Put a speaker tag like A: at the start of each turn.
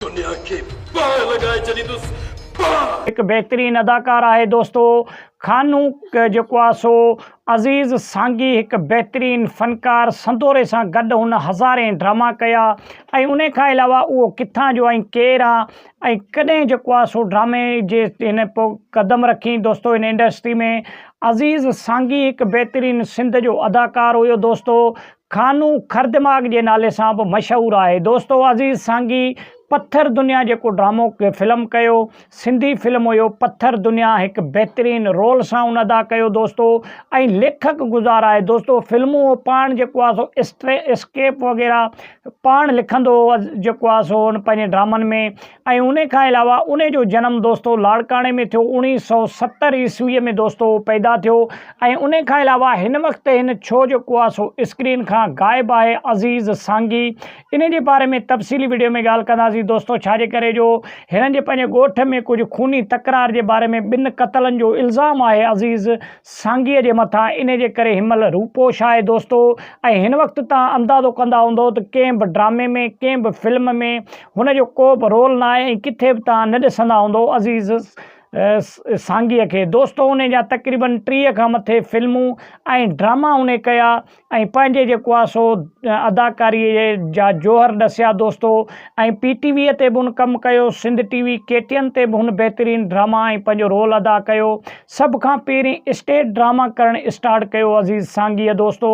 A: دنيا کي باهه لڳائي ڇڏيندس باهه. هڪ
B: بهترين اداڪار آهي دوستو خانوڪ جيڪو آ سو عزيز سانگي هڪ بهترين فنڪار سندوري سان گڏ هن هزارين ڊراما ڪيا ۽ انهي کان علاوه اهو ڪٿان جو ۽ ڪير آ ۽ ڪڏهن جيڪو آ سو ڊرامي جي هن پو قدم رکين دوستو هن انڊسٽري ۾ عزيز سانگي هڪ بهترين سنڌ جو اداڪار هيو دوستو خانو خر دماغ جي نالي سان به مشهور آهي دوستو عزيز سانگي پٿر دنيا جيڪو ڊرامو فلم ڪيو سنڌي فلم هيو پٿر دنيا هڪ بهترين رول سان ان ادا ڪيو دوستو ۽ ليکڪ گذار آهي دوستو فلمون هو پاڻ جيڪو آهي سو اسٽري اسڪيپ وغيره پاڻ لکندو هو جيڪو آهي سو ان پنهنجي ڊرامن ۾ ۽ انهي کان علاوه انهي جو جنم دوستو لاڙڪاڻي ۾ ٿيو اوڻيهه سؤ ستر عيسويء ۾ دوستو پيدا ٿيو ۽ انهي کان علاوه هن وقت هن ڇو جيڪو آهي سو اسڪرين کان غائب آهي عزيز سانگي انهي جي باري ۾ تفصيلي وڊيو ۾ ڳالهه ڪنداسين دوستو ڇا جي ڪري جو هنن جي پنهنجي ڳوٺ ۾ ڪجهه خوني تڪرار جي باري ۾ ٻن قتلن جو الزام آهي عزيز سانگي جي مٿان انهي جي ڪري هن مهل روپوش آهي دوستو ۽ هن وقت تان اندازو ڪندا هوندو ته ڪنهن به ڊرامي ۾ ڪنهن به فلم ۾ هن جو ڪوبه رول ناهي ۽ ڪٿي به توهان نه ڏسندا هوندو عزيز سانگيء کي. دوستو انهيء جا تقريباً ٽيهه کان مٿي فلمون ۽ ڊراما انهيء ڪيا ۽ پنهنجي جيڪو آهي سو اداڪاريء جا جوهر ڏسيا دوستو ۽ پي ٽي ويء تي به هن ڪم ڪيو Sindh T V K T N تي به هن بهترين ڊراما ۽ پنهنجو رول ادا ڪيو سڀ کان پهرين اسٽيج ڊراما ڪرڻ اسٽارٽ ڪيو عزيز سانگيء دوستو